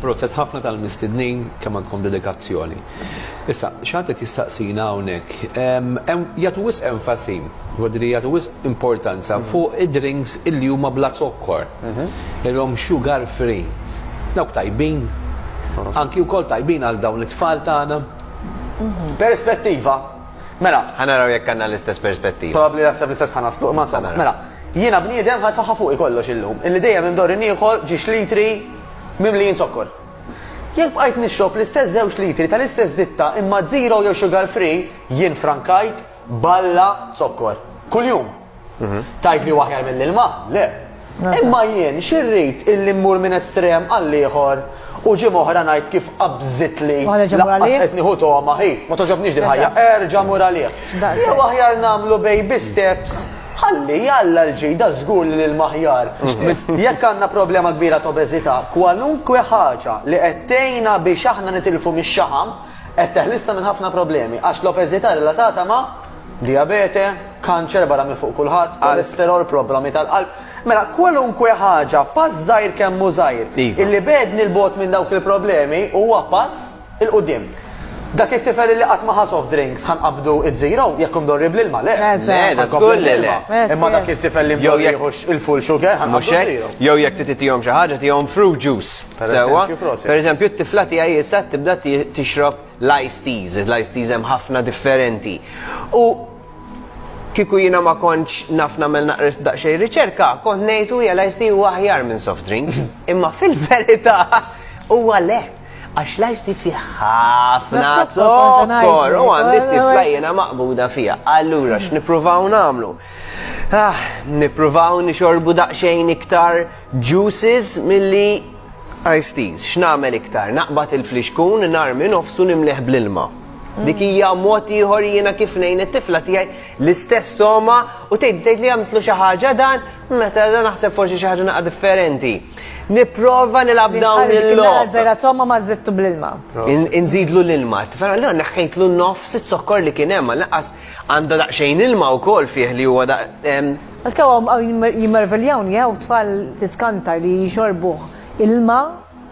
Proset ħafna tal-mistednin kemm għandkom dedikazzjoni. Issa, xantet jistaqsina hawnhekk, jagħtu wis enfasi, wadri jagħtu wis importanza mhm. fuq id-drinks illi huma bla zokkor, mhm. ilhom sugar free. Dawk tajbin, mhm. anki wkoll tajbin għal dawn it-tfal tagħna. Perspettiva, Mela. Ħa naraw jekk għandna l-istess perspettiva. Probabbli naħseb l-istess ħa naslu, imma insomma. Mela. Jiena bniedem ħadd faħħa fuqi kollox illum, illi dejjem indorri nieħu ġiex litri mimlijin zokkor. Jekk bqajt nixrob l-istess żewġ litri tal-istess ditta imma zero jew sugar free, jien frankajt balla zokkor. Kuljum. Mhm. Tajt li waħjar mill-ilma? Le. Imma jien xirrit illi mmur minn estrem għall-ieħor u ġim oħra ngħid kif qabżit li qed nieħu toma ħi, ma toġobniex din ħajja, erġa' mur għalih. Jew aħjar nagħmlu baby steps ħalli jalla l-ġida żgur li l-maħjar. Mhm. Jekk għandna problema kbira ta' obeżità, kwalunkwe ħaġa li qed tgħinna biex aħna nitilfu mix-xaħam qed teħlisna minn ħafna problemi għax l-obeżità relatata ma' diabete, kanċer barra minn fuq kulħadd, kolesterol, problemi tal-qalb. Mela kwalunkwe ħaġa pass żgħir kemm hu żgħir Iva. illi bedni l-bot minn dawk il-problemi huwa pass il quddiem Dak it-tifel illi qatt ma ħa soft drinks ħa nqabbdu it-zero jekk hu mdorri bl-ilma le. Eh, se. Le, da żgur li le. Eh, Imma se. dak it-tifel li Jew mdorri jekk- jieħux il-full sugar ħa Mhux nqabbdu hekk, zero. jew jekk trid titihom xi ħaġa tihom fruit juice. Per Sewwa. eżempju, proset. Per eżempju, t-tifla tiegħi issa tibda ti- tixrob l-ice teas, l-ice teas hemm ħafna differenti. U Kieku jiena ma kontx naf nagħmel naqra daqsxejn riċerka, kont ngħid u jela ice tea huwa aħjar minn soft drink. Imma fil-verità huwa le, għax l-ice tea fih ħafna zokkor u għandi t-tifla jiena maqbuda fiha. Allura x'nippruvaw nagħmlu? Ah, nippruvaw nixorbu daqsxejn iktar juices milli ice teas. X'nagħmel iktar? Naqbad il-flixkun, narmi nofsu nimlieh bl-ilma. Dik mm. hija mod ieħor jiena kif ngħin it-tifla tiegħi l-istess toma u tgħid tgħid li għamtlu xi ħaġa dan meta dan naħseb forsi xi ħaġa naqa' differenti. Nipprova nilgħab dawn il-logħba. Żera toma ma żittu bl-ilma. Inżidlu l-ilma. Tifla le neħħejtlu nofs it-zokkor li kien hemm naqas għandha daqsxejn ilma wkoll fih li huwa daq. Għalkemm jimmerviljawni jew tfal tiskanta li jxorbuh ilma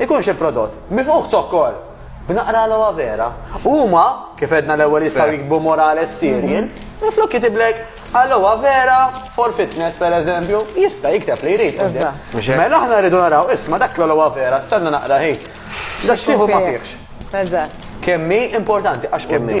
Ikun xi prodott mifqugħ b'zokkor, b'naqra aloe vera, u huma, kif għedna l-ewwel jistgħu jiktbu Morales cereal, minflok kitibllek aloe vera for fitness pereżempju, jista' jikteb li jrid quddiem. Mela aħna rridu naraw, isma' dak l-aloe vera, stenna naqra hi. Dak x'tieħu ma fihx. Eżatt. Kemm hi importanti għax quddiem.